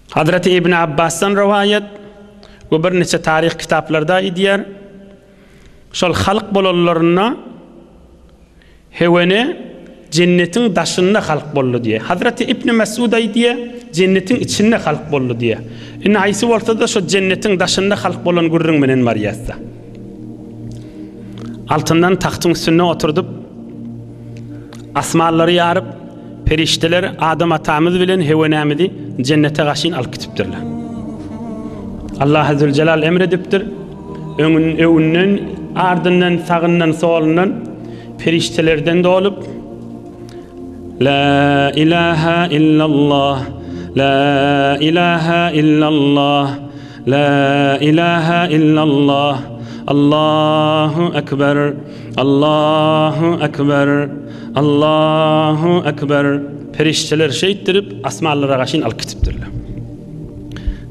Hazraty Ibn Abbasdan rowaýat we birniçe taryh kitaplarda aýdýar, Şol halk bolanlarynda Hewene Jennetiň daşynda halk boldy diýýär. Hazraty Ibn Mesud aýdýar, Jennetiň içinde halk boldy diýýär. Indi haýsy bolsa-da şo Jennetiň daşynda halk bolan gürrüň menen barýas-da. Altyndan tagtyň üstünde oturdyp, Asmanlary ýaryp, perişdeler Adam atamyz bilen Hewenämizi Jennete gaşyn alyp gitipdirler. Allah Azzüljelal emr edipdir, öňün, öňünden, ardyndan, sagyndan, solundan perişdelerden dolup, La ilaha illallah, la ilaha illallah, la ilaha illallah, Allahu ekber. Allahu Ekber! Allahu Ekber! Perişdeler şeýtdirip, asmanlara gaşyn alyp gitipdirler.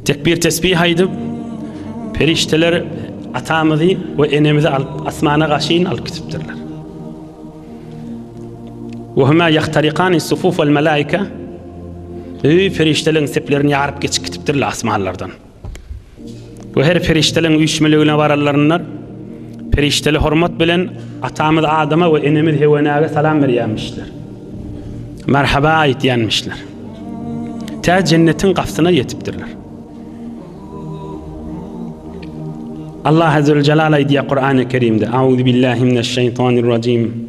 Tekbir tesbih aýdyp, perişdeler atamyzy we enemizi alyp asmana gaşyn alyp gitipdirler. Ve huma yahtariqani sufuf vel melaike. Ey feriştelerin seplerini yarıp geçip gitipdirler asmanlardan. Bu her perişdeleň üýşmeligine baranlarynda perişdeli hormat bilen atamyz Adama we enemiz Hewenäge salam berýärmişler. Merhaba aýtýanmişler. Tä jennetiň gapsyna ýetipdirler. Allah azze we jalal aýdýar Kur'an-ı Kerimde: "Auzu billahi mineşşeýtanirrajim."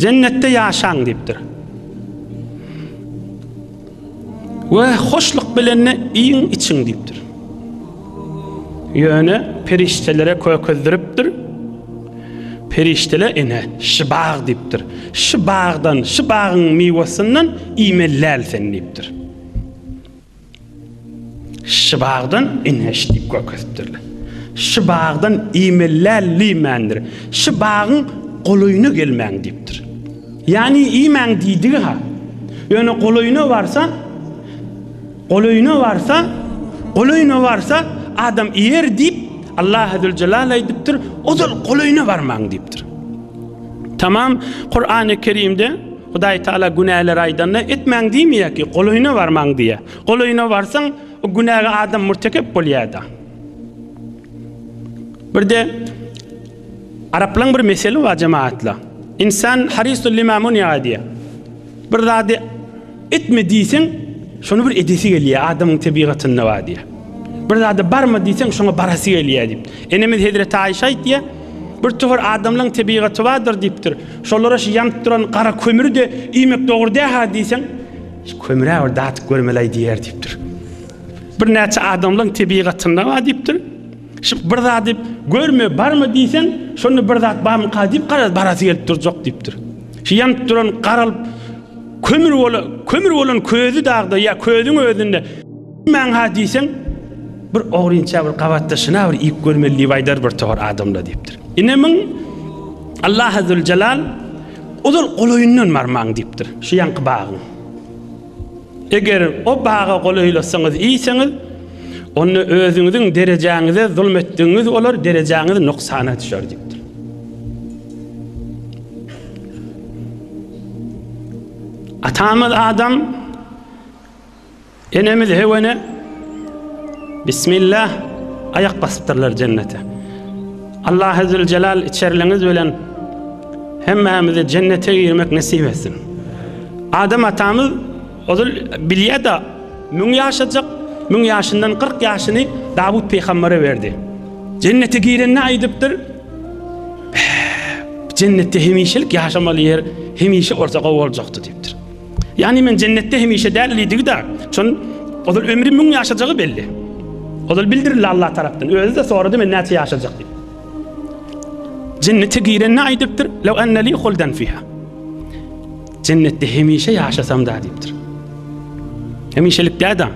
Jennetde ýaşaň diýipdir. We hoşluk bilenini iýiň, içiň diýipdir. Ýöne perişdelere kökezdiripdir. Perişdeler ene şu bag diýipdir. Şu bagdan, şu bagyň miwesinden iýmeli däl sen diýipdir. Şu bagdan inheş diýip görkezipdirler. Şu bagdan iýmelläl liýmändir. Şu bagyň golaýyna gelmäň diýipdir. Ýani iýmäň diýdigi ha. Ýöne golaýyna barsa, golaýyna barsa, golaýyna barsa adam iýer diýip Allah Azze Celal aýdypdyr. Ozal golaýyna barmaň diýipdir. Tamam Kur'an-ı Kerimde Hudaý Taala günäleri aýdanda, etmäň diýmeýär ki, golaýyna barmaň diýýär. Golaýyna barsaň, o günäge adam mürtekep bolýar-da. Birde araplaryň bir meseli bar jemagatlar. İnsan harisul lima munya diýýär. Bir zady etme diýseň, şony bir edesi gelýär, adamyň tebigatynda bar diýýär. Bir zady barma diýseň, şoňa barasy gelýär diýip. Enemiz Hezreti Aýşa aýtýar, bir tuhur adamlaryň tebigaty bardyr diýipdir. Şolara şu ýanyp duran gara kömüri-de iýmek dogry däl-hä diýseň, şu kömür-ä bir datyp görmeli-aý diýer diýipdir. Birnäçe adamlaryň tebigatynda bar diýipdir. Şu bir zady görme barmy diýseň, şonda bir zat barmyka diýip garaz, barasy gelip durjak diýipdir. Şu ýanyp duran garalyp kömür bolan, kömür bolan közi dagda ýa közüň özünde. Maňa diýseň, bir ogrynça bir gabatdaşyna bir iýip görmeli diýip aýdar bir togar adamlar diýipdir. Ine muň Allah Azzejelal ozal golaýyndan barmaň diýipdir. Şu ýanky bagyň. Eger o baga golaýlasaňyz iýseňiz, onda özüňiziň derejäňize zulm etdigiňiz bolar, derejäňiz nuksana düşer diýipdir. Atamyz Adam Enemiz Hewene Bismillah aýak basypdyrlar jennete. Allahezzüljelal içerliňiz bilen hemmämize jennete girmek nesip etsin. Adam atamyz ozal bilýär-de, müň ýaşajak, müň ýaşyndan kyrk ýaşyny Dawut pygambere berdi. Jennete girende aýdypdyr, Jennetde hemişelik ýaşamaly ýer hemişe bolsa gowy boljakdy diýipdir. Ýagny men jennetde hemişe däl diýdigi-de, şon ozal ömri müň ýaşajagy belli. Ozal bildirildi Allah tarapdan. Özi-de sorady men näçe ýaşajak diýip. Jennete girende aýdypdyr, "Law anna li huldan fiha." Jennetde hemişe ýaşasam da diýipdir. Hemişelik däda.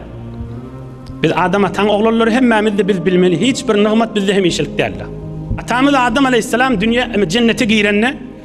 Biz Adam ataň oglanlary hemmämiz de biz bilmeli, hiç bir nygmat bizde hemişelik däldi. Atamyz Adam aleyhisselam dünýä jennete girende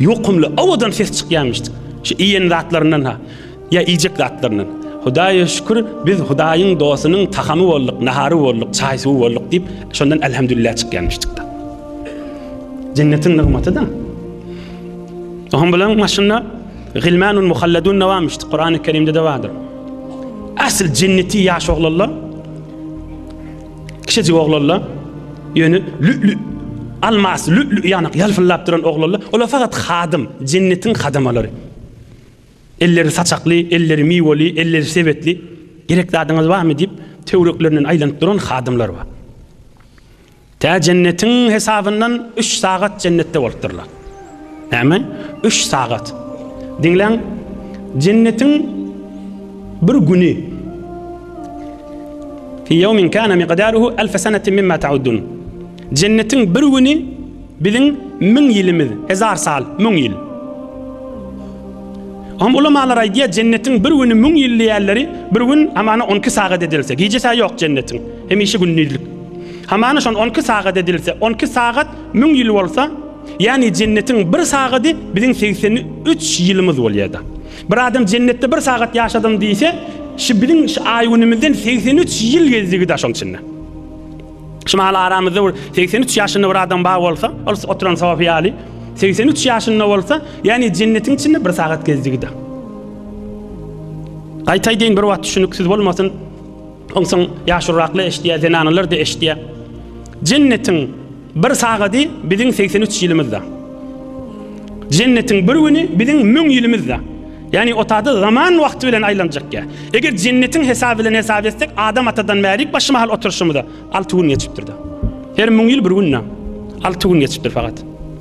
Ýokumly, owadan ses çykýarmyşdyk. Şu iýen zatlaryndan-ha, ýa iýjek zatlaryndan. Hudaýa şükür, biz Hudaýyň dostunyň tagamy bolduk, nahary bolduk, çaý-suwy bolduk diýip, şondan Elhamdülillah çykýarmyşdyk-da. Jennetiň nygmaty-da. Oňa bilen maşynda Gilmanun muhalladun näwamişdi? Kurany Kerimde de bardyr. Asl jenneti ýaş oglanlar Kiçijik oglanlar, ýöne lü-lü, almas, lü-lü ýanak ýalpyldap duran oglanlar, olar fakat hadym, jennetiň hadamalary. Elleri saçakly, elleri miweli, elleri sebetli, gerek zadyňyz barmy diýip, töwereklerinden aýlanyp duran hadymlar bar. Tä jennetiň hesabyndan üç sagat jennetde bolupdyrlar. Näme? Üç sagat. Diýlen jennetiň bir güni. Fi ýawmin kana miqdaruhu alf sanatin mimma ta'uddun. Jennetiň bir güni biziň müň ýylymyz, hezar sal, müň ýyl. Am ulamalar aýdýar, jennetiň bir güni müň ýyl diýýärleri, bir gün hamana 12 sagat edilse, gijesi ýok jennetiň, hemişe gündizlik. Hamana şon 12 sagat edilse, 12 sagat Müň ýyl bolsa, ýagny jennetiň bir sagady biziň segsen üç ýylymyz bolýar-da. Bir adam jennetde bir sagat ýaşadym diýse, şu biziň şu aý-günümizden segsen üç ýyl gezdigi-dä şonuň içinde. Şu mahaly aramyzda bir segsen üç ýaşynda bir adam bar bolsa, ol oturan sofy ýaly, segsen üç ýaşynda bolsa, ýagny jennetiň içinde bir sagat gezdigi-dä. Gaýtaýdyn, bir wagt düşüniksiz bolmasyn, Onsoň ýaşulyraklar eşidýär, zenanalar-da eşidýär. Jennetiň bir sagady biziň 83 ýylymyzda. Jennetiň bir güni biziň 1000 ýylymyzda. Ýagny otada zaman wagty bilen aýlanjak ýa. Eger jennetiň hesaby bilen hesap etsek, Adam atadan bärik başy mahal oturşymyza 6 gün geçipdir-de. Her 1000 ýyl bir günde. 6 gün geçipdir fakat.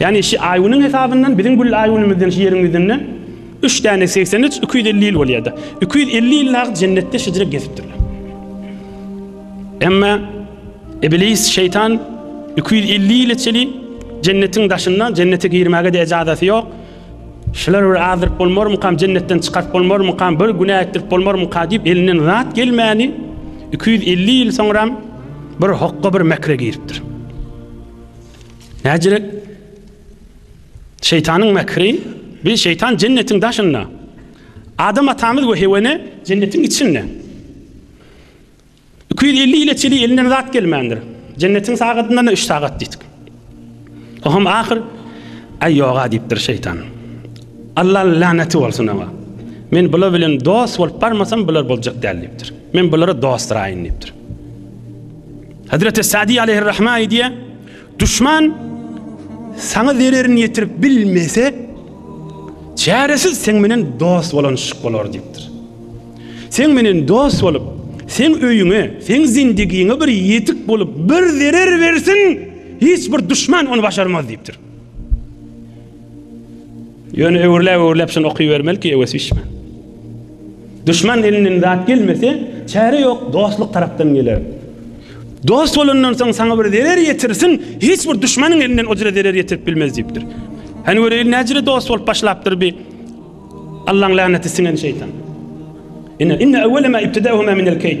Ýagny şi aýgüniň hesabyndan biziň gül aýgünimizden şi ýeriň ýüzünde üç däne segsen üç iki ýüz elli ýyl bolýada. Iki ýüz elli ýyl nagyt jennetde şejire gezipdirler. Emma Iblis şeýtan iki ýüz elli ýyla çeli jennetiň daşynda jennete girmäge-de ejazaty ýok. Şular bir azdyryp bolmarmykam, jennetden çykaryp bolmarmykam, bir günä etdirip bolmarmyka diýip elinden zat gelmäni iki ýüz elli ýyl soňram bir hokga bir mekre giripdir. Näcilik şeýtanyň mekri, bir şeýtan jennetiň daşynda. Adam atamyz we Heweni jennetiň içinde. 250 ýyla çenli elinden zat gelmändir. Jennetiň sagadyndan üç sagat diýdik. O hem ahyr Aý ýoga diýipdir şeýtan. Allah laneti bolsun oňa. Men bular bilen dost bolup barmasam bular boljak däl diýipdir. Men bulara dostraýyn diýipdir. Hezreti Sadi aleyhirrahma edýär, düşman sana zererini yetirip bilmese, çaresiz sen menen dost bolanşyk bolar deyipdir. Sen menen dost bolup, sen öyüne, sen zindigine bir yetik bolup, bir zerer versin, hiç bir düşman onu başarmaz deyipdir. Ýöne öwürläp-öwürläp şony okybermeli ki, öwesi bişmän. Duşman elinden zat gelmese, çäre ýok, dostluk tarapdan geler. Dost bolandan soň saňa bir zerer ýetirsin, hiç bir duşmanyň elinden o jüre zerer ýetirip bilmez diýipdir. Hany göreýin näjüre dost bolup başlapdyr bi Allaň laneti siňen şeýtan. Inne inne awwala ma ibtidahuma min al-kayd.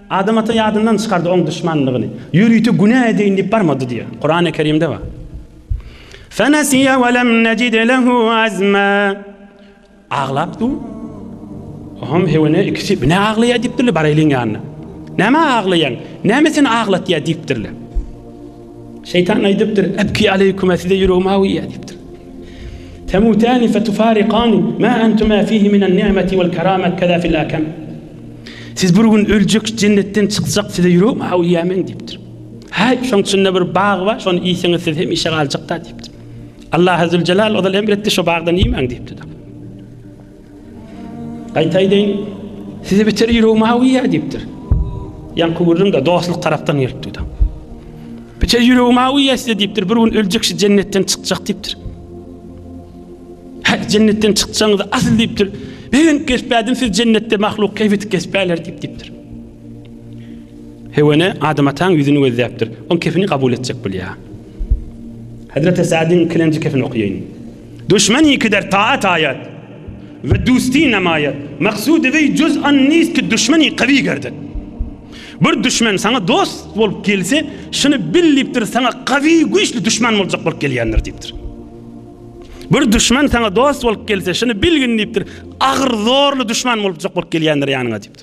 Adam ata ýadyndan çykardy oň duşmanlygyny. Ýörite günä edeýin diýip barmady diýýär. Kurany Kerimde bar. Fenesiýe we lem necid lehu azma. Aglap dur. Ohm hewene ikisi ne aglaýa diýipdirler baraýlyň ýanyna. Näme aglaýaň? Näme seni aglatýa diýipdirler. Şeýtan aýdypdyr, Ebki aleýkuma size ýüregim awuýýar diýipdir. Temutani fetufariqani ma antuma fihi minan ni'meti wal karamat kaza fil akam. Siz bir gün öljek, jennetden çykjak, size ýüregim awuýýar men diýipdir. Haý, şoň içinde bir bag bar, şony iýseňiz siz hemişe galjakda diýipdir. Allah Azzul Jalal ozal emr etdi, şo bagdan iýmäň diýipdir. Gaýta aýdaýyn, size beter ýüregi mawy ýa diýipdir. Ýaňky gürrüň-de dostluk tarapdan gelipdi-de. Beter ýüregi mawy ýa size diýipdir, bir gün öljek şu jennetden çykjak diýipdir. Hä, jennetden çykjagyňyzy asyl diýipdir. Begenip geçpädim siz jennetde mahluk keýp edip geçpäler diýip diýipdir. Hewene Adam ataň ýüzüni gözläpdir. Oň kefini kabul etjek bolýar. Hazreti Sadyn ikilenji kefini okaýaýyn. Duşman ikider taat aýat, we dusty namaýat, maksud weý juz an nist ki duşman iqawi gerdek. Bir duşman saňa dost bolup gelse, şuny bil diýipdir, saňa gawy, güýçli duşman boljak bolup gelýändir diýipdir. Bir duşman saňa dost bolup gelse, şuny bilgin diýipdir, agyr, zorly duşman bolupjak bolup gelýändir ýanyňa diýipdir.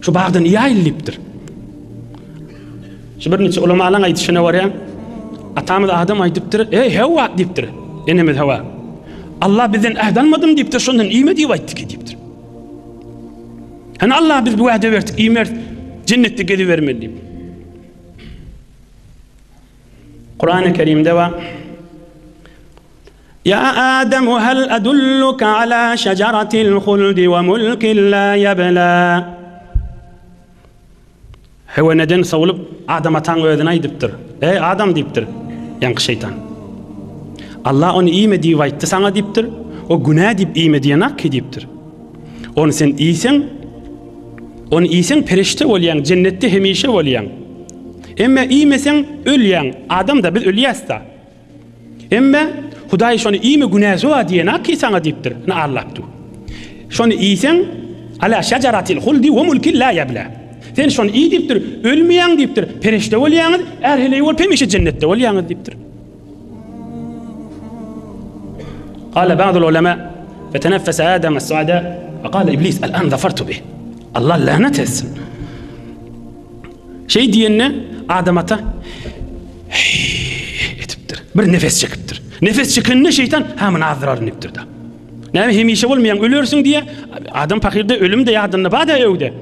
Şu bagda niye aýyllipdir? Şu bir niçe ulamalaň aýdyşyna görä, atamyz Adam aýdypdyr, "Eý Hawa" diýipdir. Enemiz Hawa. Allah bizden äht almadym diýipdir, şondan iýme diýip aýtdy ki diýipdir. Hani Allah biz bu wada berdik, iýmer jennetde gezibermeli diýip. Kur'an-ı Kerim'de var. Ýa Adam hal adulluka ala şejaratil huldi we mulkin la ýebla. Hewa neden sowlup, Adam ataň özüne aýdypdyr. Eý, Adam diýipdir, ýaňky şeýtan. Allah ony iýme diýip aýtdy saňa diýipdir. O günä diýip iýme diýenak ki diýipdir. Ony sen iýseň, ony iýseň perişde bolýaň, jennetde hemişe bolýaň. Emme iýmeseň ölýäň. Adam-da biz ölýäs-da. Emme Hudaý şony iýme günäsi bar diýen ki saňa diýipdir. Ne Allahdy. Şony iýseň ala şajaratil huldi we mulkin la yabla. Sen şony iý diýipdir. Ölmeýäň diýipdir. Perişde bolýaňyz, ähli bolup hemişe jennetde bolýaňyz diýipdir. Qala ba'dul ulema feteneffese Adam as-Sada ve qala iblis al-an zafartu bih. Allah lanet etsin. Şeý diýende Adam ata etipdir. Bir nefes çekipdir. Nefes çekende şeytan hem azdyraryn dipdir da. Näme hemişe bolmaýan ölersiň diye adam fakirde ölüm de ýadynda bada öwde.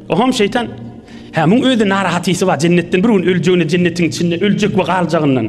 Oham şeytan ha muň özi narahatysi bar jennetden bir gün öljegini jennetin içinde öljek we galjagyndan.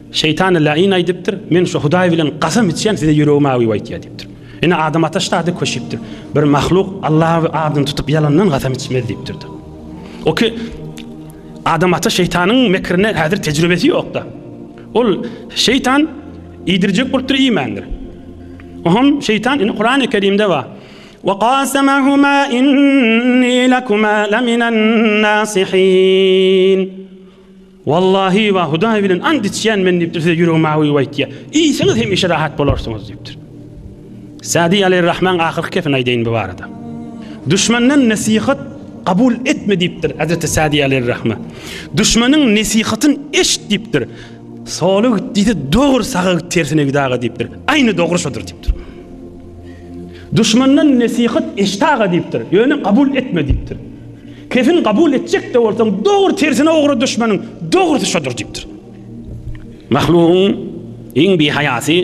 Şeýtany laýyn aýdypdyr. Men şu Hudaý bilen gasam içýän, size ýüregim awyp aýtýar diýipdir. Ine, Adam ata şdady köşüpdir. Bir mahluk Alla adyny tutup ýalandan gasam içmez diýipdir-de. O ki Adam ata şeýtanyň mekrine häzir tejribesi ýok-da. Ol şeýtan iýdirjek bolupdyr, iýmändir. Oham şeýtan indi Kurany Kerimde bar. Wa qasamahuma inni lakuma laminan nasihin. Wallahi we Hudaý bilen ant içýän men diýipdir size ýüregim awy aýtýa. Iýseňiz hemişe rahat bolarsyňyz diýipdir. Sadi Aleýrahman ahyrky kepini aýdaýyn bu barada. Düşmenden nesihat kabul etme diýipdir Hazreti Sadi Aleýrahman. Düşmeniň nesihatyn eşit diýipdir. Sola git diýse dogry saga git tersine git aga diýipdir. Aýny dogry şodur diýipdir. Düşmenden nesihat eşit aga diýipdir. Ýöne kabul etme diýipdir. Kefil kabul etjekde bolsaň dogry tersine ugra düşmeniň dogrusy şodur diyipdir. Mahlugyň iň bihaýasy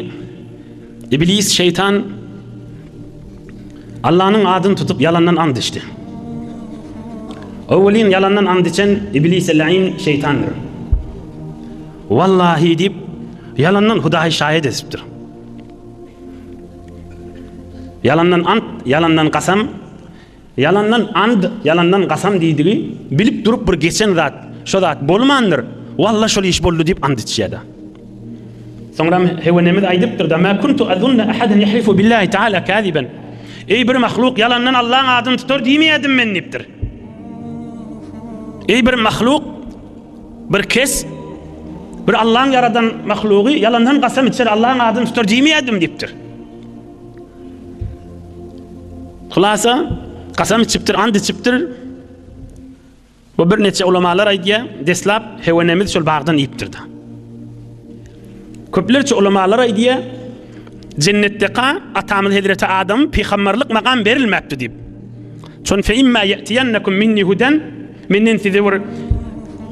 Iblis şeýtan Allanyň adyny tutup ýalandan and içdi. Öwelin ýalandan and içen Iblis el-Ayn şeýtandyr. Wallahi diýip ýalandan Hudaýy şaýat edipdir. Ýalandan ant, ýalandan kasam Ýalandan and, ýalandan gasam diýdigi, bilip durup bir geçen zat, şo zat bolmandyr, Walla şol iş boldy diýip and içýär-de. Soňram Hewenemiz aýdypdyr-da, Mä kuntu azunna ahadan yahlifu billahi taala kaziben. Eý bir mahluk ýalandan Allaň adyny tutar diýmeýärdim men diýipdir. Eý bir mahluk, bir kes bir Allaň ýaradan mahlugy ýalandan gasam içer Allaň adyny tutar diýmeýärdim diýipdir. Hulasa, kasam içipdir, ant içipdir. Bu bir neçe ulamalar aýdýar, deslap hewenemiz şol bagdan iýipdir-de. Köplerçe ulamalar aýdýar, jennetdeka atamyz Hezreti Adam pygamberlik makam berilmäpdi diýip. Çon fe imma yatiyannakum minni hudan menden size bir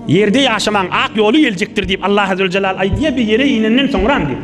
ýerde ýaşaman ak ýoly geljekdir diýip Allah azze we jellal aýdýar bir ýere inenden soňra diýip.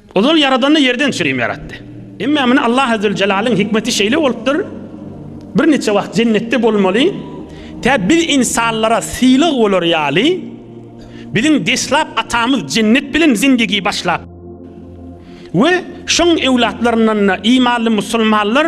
Ozal Ýaradany ýerden çürim ýaratdy. Emma muny Allah Azzewjelalyň hikmeti şeýle bolupdyr, birniçe wagt jennetde bolmaly, tä biz ynsanlara sylag bolar ýaly, biziň deslap atamyz jennet bilen zindigi başlap we şoň öwlatlaryndan-da imanly musulmanlar,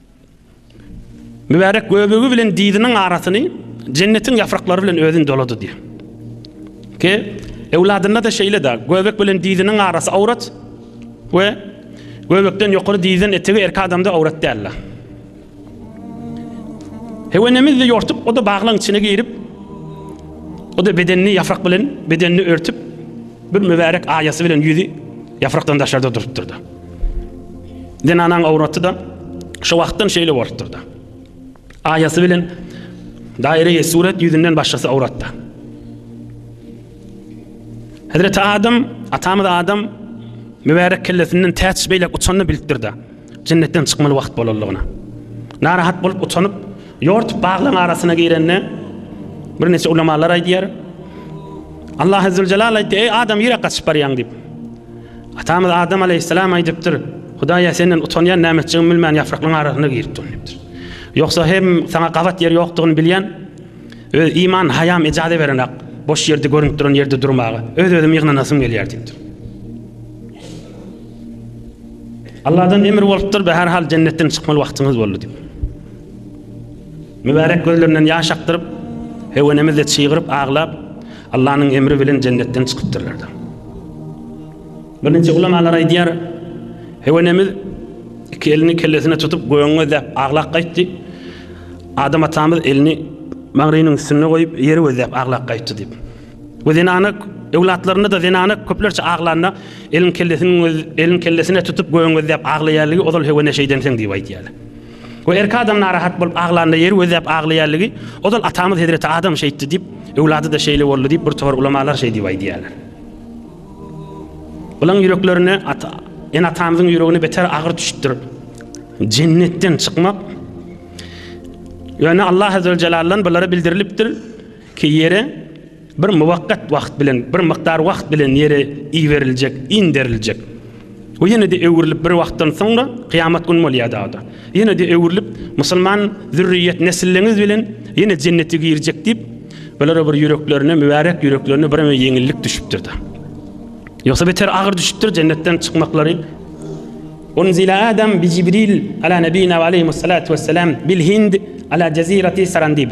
Mübärek göbegi bilen diziniň arasyny jennetiň ýapraklary bilen özün dolady diýip. Ki ewladynda da şeýle de göbek bilen diziniň arasy awrat we göbekden ýokary dizden etegi erk adamda awrat däller. Hewenemiz de ýortup, o da baglaň içine girip, o da bedenini ýaprak bilen bedenini örtüp, bir mübärek aýasy bilen ýüzi ýaprakdan daşarda durupdyrdy. Zenanaň awraty-da şo wagtdan şeýle bolupdyr-da. Aýasy bilen daire-i suret ýüzünden başgasy awratda. Hezreti Adam, atamyz Adam mübärek kellesinden täç beýläk uçanyny bilipdir-da, jennetden çykmaly wagt bolanlygyna. Narahat bolup utanyp, ýortup baglaň arasyna girende, birnäçe ulamalar aýdýar, Allah Ezzüljelal aýtdy, Eý Adam, nirä gaçyp barýaň diýip. Atamyz Adam alaýhyssalam aýdypdyr, Hudaý-a, Senden utanýan, näme etjegimi bilmän ýapraklaryň arasyna girip durun diýipdir. Ýogsa hem saňa gabat ýer ýokdugyny bilýän, öz iman haýam ejaze berenak, boş ýerde görünip duran ýerde durmaga, öz-özümi ýygnanasym gelýär diýipdir. Allahdan emir bolupdyr, Bäherhal jennetden çykmaly wagtyňyz boldy diýip. Mübärek gözlerinden ýaş akdyryp, Hewenemiz-de çygyryp aglap, Allanyň emri bilen jennetden çykypdyrlar-da. Bir niçe ulamalar aýdýar, Hewenemiz iki elini kellesine tutup gögüň gözläp aglap gaýtdy, Adam atamyz elini maňrynyň üstünde goýup ýeri gözläp aglap gaýtdy diýip. We zenana öwlatlarynda-da zenana köplerçe aglanda elin kellesiniň elin kellesine tutup gögüň gözläp aglaýarligi ozal Hewene şeýdensiň diýip aýdýarlar. We erki adam narahat bolup aglanda ýeri gözläp aglaýarlygy, ozal atamyz hezreti Adam şeýtdi diýip, öwlady-da şeýle boldy diýip bir topar ulamalar şeý diýip aýdýarlar. Bulaň ýüreklerine ata, ene atamyzyň ýüregine beter agyr düşüpdir. Jennetden çykmak Ýöne Allah azzewejelle'den bulara bildirilipdir ki ýere Bir muwakkat wagt bilen, bir mukdar wagt bilen ýere iberiljek, inderiljek. We ýene-de öwrülip bir wagtdan soňra, kyýamat gün bolýar dagda. Ýene-de öwrülip, musulman zürriýet nesilleňiz bilen ýene jennete girjek diýip, bulara bir ýüreklerine, mübärek ýüreklerine bireme ýeňillik düşüpdir-de. Ýogsa beter agyr düşüpdir jennetden çykmaklary. Unzile Adam bi Jibril ala nebina ve aleyhimussalatu vesselam bil Hind ala cezirati Sarandib.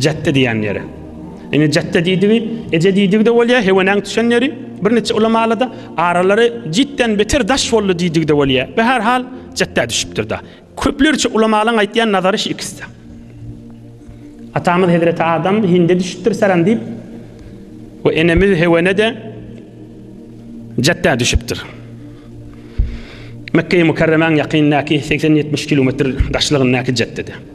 Jatde diýen ýeri. Ine jatde diýdigi, eje diýdigi-de bolýar, hewenäň tüşen ýeri. Bir neçe ulamalarda aralary jitden beter daş boldy diýdigi-de bolýar. Be her hal jatda düşüpdir-de. Köplerçe ulamalaryň aýtýan nazary şu ikisi. Atamyz Hezreti Adam Hinde düşüpdir saran diýip we enemiz Hewene-de jatda düşüpdir. Mekge-i Mukarremäň ýakynyndaky 80-70 kilometr daşlygyndaky jatdede.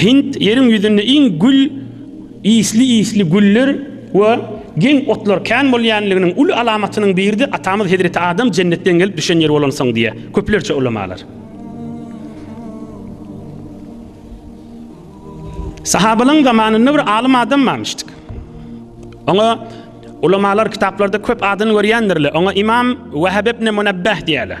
Hind ýeriň ýüzünde iň gül ysly-ysly güller we geň otlar kän bolýanliginiň uly alamatynyň biridir, atamyz Hezreti Adam jennetden gelip düşen ýer bolansoň diýýär köplerçe ulamalar. Sahabalaň zamanynda bir alym adam barmyşdyk. Oňa ulamalar kitaplarda köp adyny görýändirler. Oňa Imam Wahab ibn Munabbah diýýärler.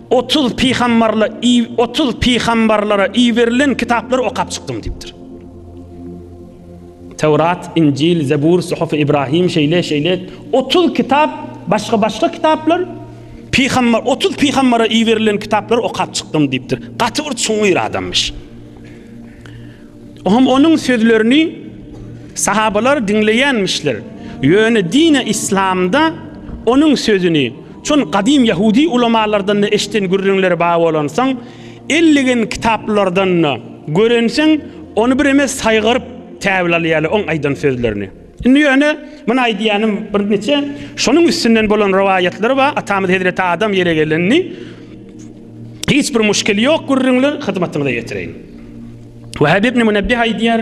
Otuz pygambarla i otuz pygambarlara iberilen kitaplary okap çykdym diýipdir. Tewrat, Injil, Zebur, Suhuf Ibrahim şeýle şeýle otuz kitap, başga-başga kitaplar pygambar otuz pygambara iberilen kitaplary okap çykdym diýipdir. Gaty bir çuňňur adamyş. Oňam onuň sözlerini sahabalar diňleýänmişler. Ýöne dine islamda onuň sözüni Şol gadym ýahudi ulamalardan-da eşiden gürrüňleri bar bolansoň, elligen kitaplardan-da görensoň, ony bireme saýgaryp täwil alýarlar oň aýdan sözlerini. Indi ýöne, muny aýdýanym birnije şonuň üstünden bolan rowaýatlar bar, atamyz hezreti Adam ýere gelendi. Hiç bir muşkili ýok gürrüňler, hyzmatyňyza ýetireýin. Wehep ibn Münebbih aýdýar.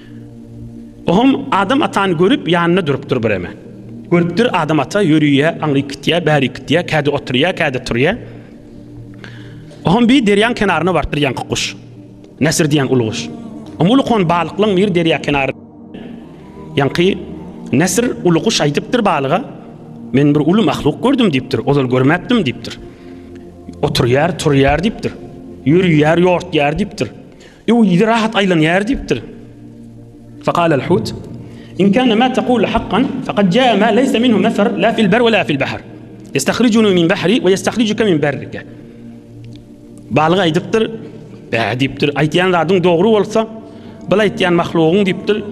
Oňam Adam atany görüp, ýanynda durupdyr bireme. Görüpdir, Adam ata ýörüýär, aňryk gitýär, bärik gitýär, kädi oturýar, kädi turýar. Oňam bir derýaň kenaryna barypdyr ýaňky guş. Nesir diýen uly guş. Oňam uly kon balyklaň biri derýa kenary. Ýaňky Nesir uly guş aýdypdyr balyga, Men bir uly mahluk gördüm diýipdir, ozal görmäpdim diýipdir. Oturýar, turýar diýipdir. Ýörüýär, ýortýar diýipdir. Ýow ýüzi rahat aýlanýar diýipdir. Faqal al hut in kana ma taqul haqqan faqad jaa ma laysa minhu mafar la fil bar wa la fil bahr. Yastahrijunu min bahri wa yastahrijuka min barrika. Balyk aýdypdyr, bä diýipdir. Aýtýan zadyň dogry bolsa, bil aýtýan mahlugyň diýipdir.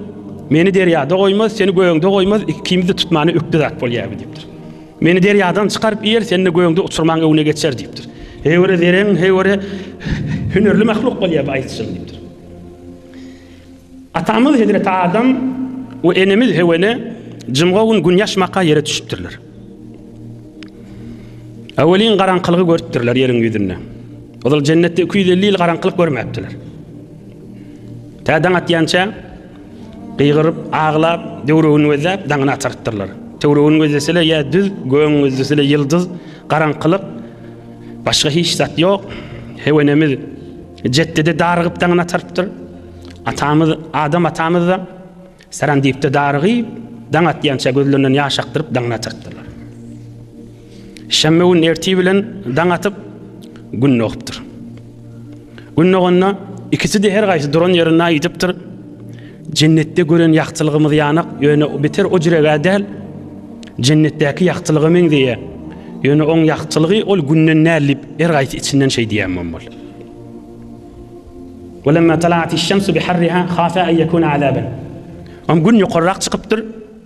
Meni derýada goýmaz, seni gögde goýmaz, ikimizi tutmany ökde zat bolýar diýipdir. Meni derýadan çykaryp iýer, sen-de göýüňde uçurmaň öňüne geçer diýipdir. Heýwere zerän, heýwere hünärli mahluk bolýar bu aýdyşym diýipdir. Atamyz Hezreti Adam we enemiz Hewene jymga gün gün ýaşmaka ýere düşüpdirler. Awelin garaňkylygy görüpdirler ýeriň ýüzünde. Ozal jennetde 250 ýyl garaňkylyk görmäpdiler. Tädaň atýança Gygyryp, aglap, töwregini gözläp, daňyny atarypdyrlar. Töwregini gözleseler ýa düz, gögüň gözleseler ýyldyz, garaňkylyk, başga hiç zat ýok. Hew enemiz jetde-de darygyp daňyny atarypdyr. Atamyz, Adam atamyz-da Saran diýip-de darygyp, daň atýança gözlerinden ýaş akdyryp daňyny atarypdyrlar. Şenbe gün ertir bilen daň atyp, Gün dogupdyr. Gün doganda, ikisi-de her gaýsy duran ýerinde aýdypdyr, Jennetde gören ýagtylygymyz ýanak, ýöne beter o jiregä däl, Jennetdäki ýagtylyga meňzeýär. Ýöne oň ýagtylygy ol Günden däl diýip, her gaýsy içinden şeý diýen bolmaly. Welemma tala'atiş-şemsu biharriha khafa an ýekuna azaban. Oň Gün ýokarrak çykypdyr.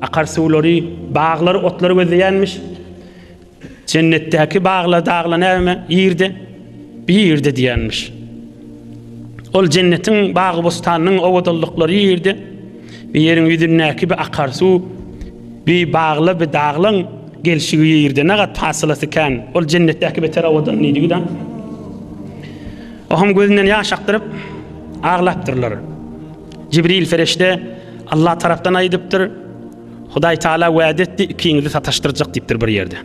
Akar suwlary baglary, otlary gözleýänmiş. Jennetdäki baglar, daglar näme? Ýerde, bir ýerde diýenmiş. Ol jennetiň bagy bostanynyň owadanlyklary ýerde, bir ýeriň ýüzündäki bir akar suw, bir bagla, bir daglaň gelşigi ýerde ne gat fasylası kän. Ol jennetdäki beter owadan diýdi gida. Ohum gözünden ýaş akdyryp aglapdyrlar. Jibril perişde Allah tarapdan aýdypdyr, Hudaý Taala wada etdi, ikiňizi sataşdyrjak diýipdir bir ýerde.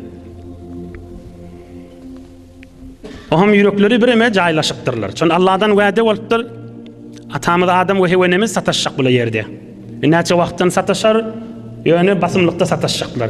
Oham ýürekleri bireme jaýlaşypdyrlar. Çon Allahdan wada bolupdyr. Atamyz Adam we Hewenemiz sataşjak bu ýerde. Näçe wagtdan sataşar? Ýöne basymlykda sataşjaklar.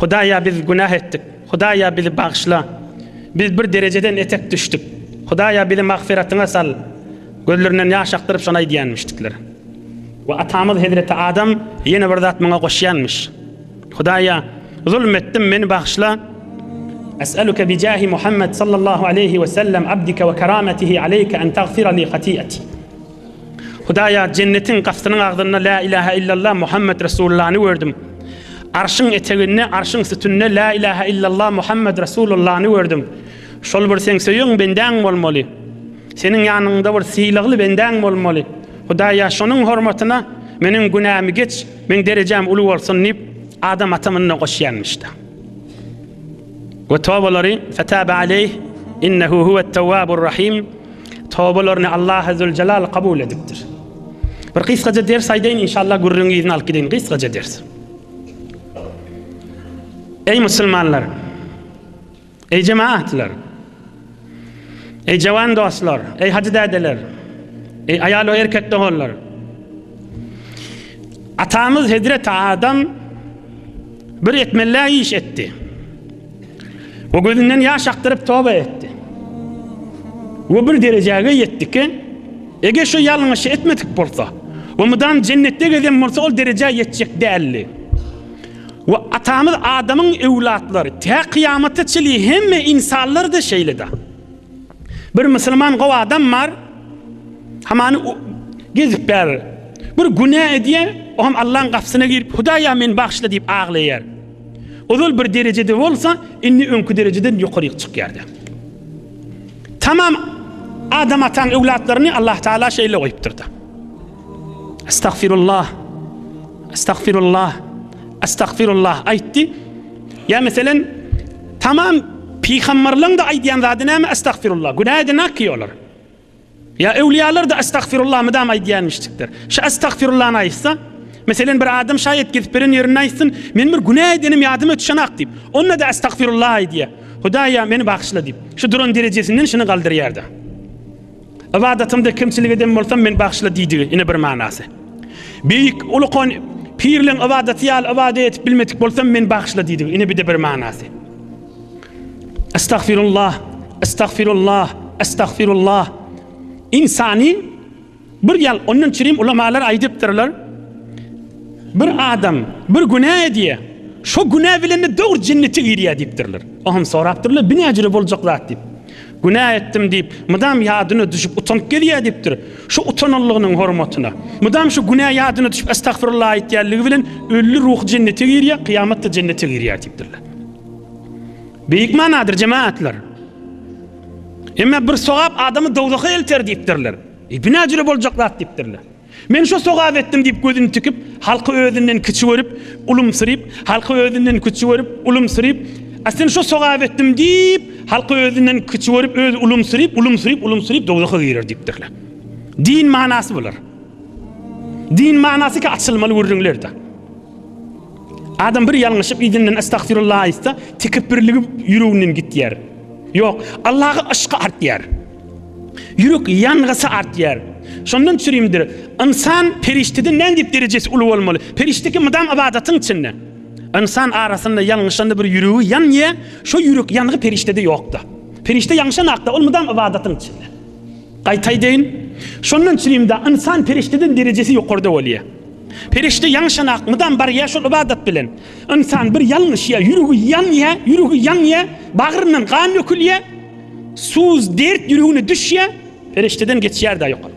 Hudaýa biz günah etdik. Hudaýa bizi bagyşla. Biz bir derejeden etek düşdük. Hudaýa bizi magfyratyňa sal. Gözlerinden ýaş akdyryp şony aýdýanmyşdyklar. We atamyz hezreti Adam ýene bir zat muňa goşýanmyş. Hudaýa zulm etdim meni bagyşla. Es'eluke bi jahi Muhammed sallallahu aleýhi we sellem abdike we kerametihi aleýke en tagfira li hati'eti. Hudaýa jennetiň gapysynyň agzynda La ilahe illallah Muhammed Resulullany gördüm. Arşyň eteginde, arşyň sütünde La ilahe illallah Muhammed Resulullany gördüm. Şol bir sen söýen bendäň bolmaly. Seniň ýanyňda bir sylagly bendäň bolmaly. Hudaýa şonuň hormatyna meniň günämi geç, meň derejäm uly bolsun diýip, adam atamynyna goşýanmyşda. We tobalary fetaba aleyh innehu huwet tawwabur rahim tobalaryny Allah Azzewjelal kabul edipdir. Bir gysgaja ders aýdaýyn inşallah gürrüň yzyny alyp gideýin gysgaja ders. Ey musulmanlar! Ey jemaatlar! Eý jawan dostlar, eý hajy dädeler, eý aýal we erkek doganlar! Atamyz Hezreti Adam bir etmelä iş etdi. O gözünden ýaş akdyryp toba etdi. O bir derejäge ýetdi ki, eger şu ýalňyşy etmedik bolsa, o mydam jennetde gezen bolsa ol derejä ýetjek däldi. We Atamyz Adamyň öwlatlary tä kyýamata çyli hemme ynsanlar-da şeýle-de. Bir musulman gowy adam bar, hamany gezip bär. Bir günä edýär, o hem Allaň gapysyna girip, Hudaýa meni bagyşla diýip aglaýar. Ozal bir derejede bolsa, indi öňki derejeden ýokaryk çykýar-da. Tamam Adam Ataň öwlatlaryny Allah Taala şeýle goýupdyr-da. Estagfirullah. Estagfirullah. Estagfirullah aýtdy. Ýa meselen tamam pygamberleň de aýdýan zady näme estagfirullah. Günä edinä ki olar. Ýa öwliýalar da estagfirullah mydam aýdýanmyşdykdyr. Şu estagfirullah aýtsa, meselen bir adam şaýat gezip beren ýerinde aýtsyn, men bir günä edenim ýadyma düşenak diýip. Onda da estagfirullah aýdýa. Hudaýa meni bagyşla diýip. Şu duran derejesinden şuny galdyrýar da. Ybadatymda kemçilik eden bolsam, meni bagyşla diýdigi, ine bir manasy. Beýik ulukan pirleň ybadaty ýaly ybadat edip bilmedik bolsam, meni bagyşla diýdigi, ine bir-de bir manasy. Estagfirullah, estagfirullah, estagfirullah. Insany bir ýal ondan çirim ulamalar aýdypdyrlar. Bir adam bir günä edýär. Şu günä bilen de dogry jennete girýär diýipdirler. Oňam sorapdyrlar, bu näjüre boljak zat diýip. Günä etdim diýip, mydam ýadyna düşüp utanyp gezýär diýipdir. Şu utananlygynyň hormatyna, mydam şu günä ýadyna düşüp estagfirullah aýtýanlygy bilen ölli ruhy jennete girýär, kyýamatda jennete girýär diýipdirler. Beýik manadyr jemaatlar. Emma bir sogap adamy dowzaha elter diýipdirler. E, bu näjüre boljak zat diýipdirler. Men şo sogap etdim diýip gözüni tikip, halky özünden kiçi görüp, ulumsyryp, halky özünden küçi görüp, ulumsyryp, a sen şo sogap etdim diýip, halky özünden kiçi görüp, özi ulumsyryp, ulumsyryp, ulumsyryp dowzaha girer diýipdirler. Din manasy bular. Din manasy ki açylmaly gürrüňlerde. Adam bir ýalňyşyp izinden estagfirullah aýtsa, tekepbirligi ýüreginden gitýär. Ýok, Allaha yşk artýar. Ýürek ýangysa artýar. Şondan çürimdir. Ynsan perişdeden nädip derejesi uly bolmaly? Perişde kim mydam ybadatyň içinde. Ynsan arasynda ýalňyşanda bir ýüregi ýanýar, şo ýürek ýangy perişdede ýokda. Perişde ýaňşan hakda ol mydam ybadatyň içinde. Gaýtaýdaýyn. Şondan çürimde ynsan perişdeden derejesi ýokarda bolýar. Perişde ýaňşan hak mydam barýar şol ybadat bilen. Ynsan bir ýalňyşýar, ýüregi ýanýar, ýüregi ýanýar, bagryndan gan dökülýär. Suz dert ýüregine düşýä, perişdeden geçýär-de ýokary.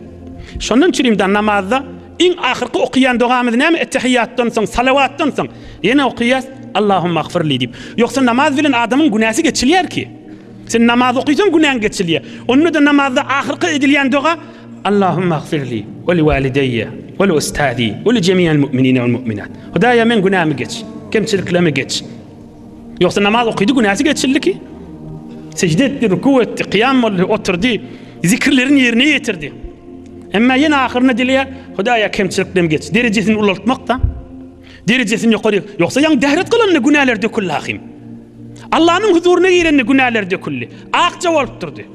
Şondan üçin-de namazda iň ahyrky okaýan dogamyz näme? Ettehiýýatdan soň, salawatdan soň ýene okaýas, Allahumma agfirli diýip. Ýogsa namaz bilen adamyň günäsi geçilýär ki. Sen namaz okaýsaň günäň geçilýär. Onda-da namazda ahyrky edilýän doga, Allahumma agfirli we li walideýe we li ustazi we li jemi'il mu'minine wal mu'minat. Hudaýa meň günämi geç, kemçiliklerimi geç. Ýogsa namaz okydy, günäsi geçildiki. Sejde etdi, ruku etdi, kyýam boldy, oturdy, zikirlerini ýerine ýetirdi. Emma ýene ahyrynda dileýär, Hudaýa kemçiliklerim geç. Derejesini ulaltmak-da. Derejesini ýokary. Ýogsa ýaň dähret kylanda günäler döküldi ahym. Allanyň huzuryna girende günäler döküldi. Akja bolup durdy.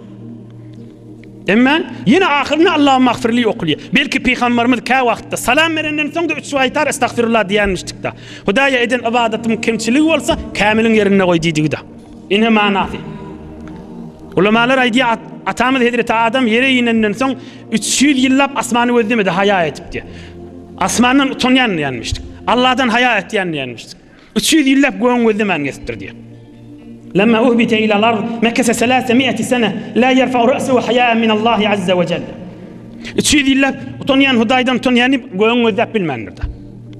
Emma ýene ahyrynda Allahumagfirli okulýar. Belki pygamberimiz kä wagtda salam berenden soň-da üç gaýtar estagfirullah diýenmişdikda. Hudaýa eden ybadatym kemçiligi bolsa, kämiliň ýerinde goý diýdigi-da. Ine manasy. Ulamalar aýdýar, atamyz hezreti Adam ýere inenden soň üç ýüz ýyllap asmany gözlemedi haýa edip diýýär. Asmandan utanýan diýenmişdik. Allahdan haýa etýän diýenmişdik. Üç ýüz ýyllap gögüň gözlemäni kesipdir diýýär. Lemma uhbite ila lard mekese selase miati sene la yerfa ra'su haya'a min Allahi azza wa jalla. Üç ýüz ýyllap utanýan Hudaýdan utanýan diýip gögüň gözläp bilmändir da.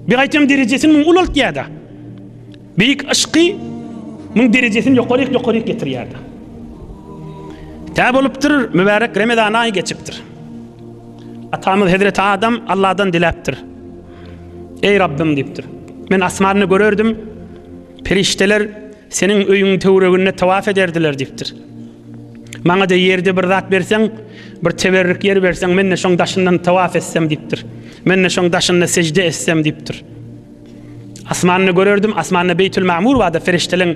Bir gaýtam derejesini muň ulaltýar da. Beýik yşky muň derejesini ýokaryk ýokaryk getirýär da. Tä bolupdyr, mübärek Remezan aýy geçipdir. Atamyz Hezreti Adam Allahdan diläpdir. Eý Rabbym diýipdir. Men asmanda görerdim, perişdeler seniň öýüň töwreginde tawaf ederdiler diýipdir. Maňa-da ýerde bir zat berseň, bir teberrük ýer berseň, men-de şoň daşyndan tawaf etsem diýipdir. Men-de şoň daşynda sejde etsem diýipdir. Asmanda görerdim, asmanda Beýtül Magmur barda perişdeleň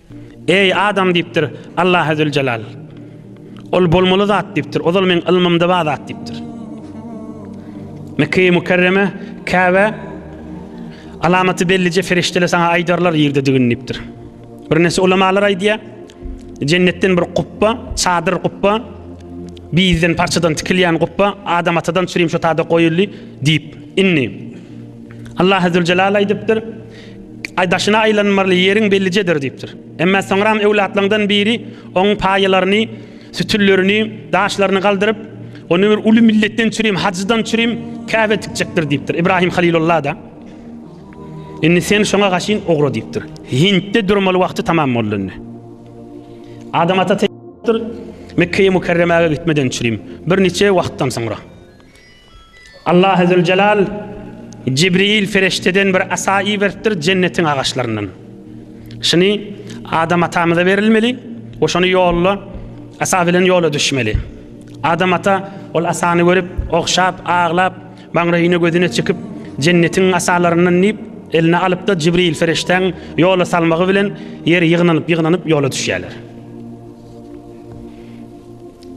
Eý, adam diýipdir, Allahy Züljelal. Ol bolmaly zat diýipdir, ozal meň ylmymda bar zat diýipdir. Mekge-i Mükerreme, Käbä, alamaty bellije ferişdeler saňa aýdarlar ýerdedigini diýipdir. Birnäçe ulamalar aýdýar, jennetden bir gupba, çadyr gupba, bizden parçadan tikilýän gupba Adam atadan çürim şo tada goýuldy diýip. Indi Allahy Züljelal aýdypdyr, Aý daşyna aýlanmaly ýeriň bellijedir diýipdir. Emma soňram öwlatlaňdan biri oň paýalaryny, sütünlerini, daşlaryny galdyryp, ony bir uly milletden çürim, hajydan çürim Käbä tikjekdir diýipdir. Ibrahim Halilulla-da Indi sen şoňa gaşyn ugra diýipdir. Hintde durmaly wagty tamam boldy indi. Adam ata Mekkeýe Mükerremäge gitmeden çürim, bir niçe wagtdan soňra. Allahy Züljelal Jibril ferişdeden bir asa iberipdir jennetiň agaçlaryndan. Şuny Adam atamyza berilmeli we şony ýolda asa bilen ýola düşmeli. Adam ata ol asany görüp, ogşap, aglap, maňraýyna gözüne çekip, jennetiň asalaryndan diýip, eline alypda Jibril ferişdäň ýola salmagy bilen ýer ýygnanyp-ýygnanyp ýola düşýärler.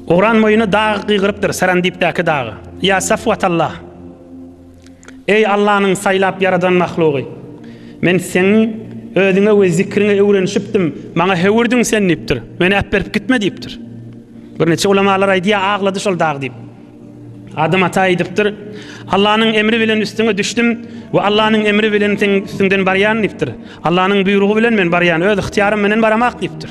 Oran boýuna dagy gygyrypdyr, Sarandipdäki dagy. Ýa Safwatallah! Eý, Allanyň saýlap ýaradan mahlugy! Men seňiň özüňe we zikriňe öwrenişipdim, maňa höwürdiň sen diýipdir. Meni äpberip gitme diýipdir. Birniçe ulamalar aýdýar, aglady şol dag diýip. Adam ata aýdypdyr, Allanyň emri bilen üstüňe düşdüm we Allanyň emri bilen seň üstüňden barýan diýipdir. Allanyň buýrugy bilen men barýan, öz ygtyýarym menen baramak diýipdir.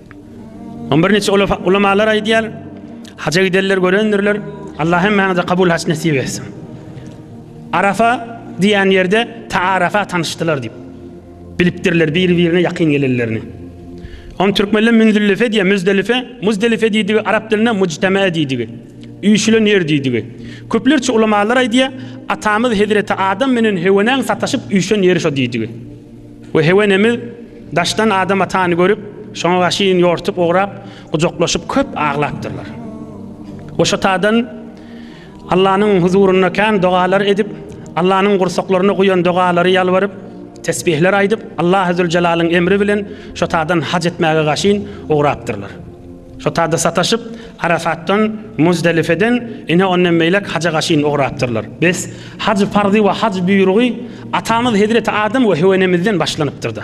Ony birnäçe ulamalar aýdýar. Haja gidenler görendirler. Allah hemmäňize kabul haç nesip etsin. Arafa diýen ýerde taarafa tanyşdylar diýip. Bilipdirler bir-birine ýakyn gelenlerini. On türkmenler Münzüllife diýýär, Müzdelife, Muzdelife diýdigi arap dilinde mujtama diýdigi. Üýşülen ýer diýdigi. Köplerçe ulamalar aýdýar, atamyz Hezreti Adam menen Hewenäň sataşyp üýşen ýeri şo diýdigi. We Hewenemiz daşdan Adam atany görüp, şoňa gaşyn ýortup ugrap, gujaklaşyp köp aglapdyrlar. We şo tadan Allanyň huzurynda kän dogalar edip, Allanyň gursaklaryna guýan dogalary ýalbaryp, tesbihler aýdyp, Allahy Züljelaliň emri bilen şo tadan haj etmäge gaşyn ugrapdyrlar. Sotada sataşyp, Arafatdan, Muzdelifeden ine ondan beýläk haja gaşyn ugrapdyrlar. Bes, haj parzy we haj buýrugy atamyz hezreti Adam we Höwenemizden başlanypdyr-da.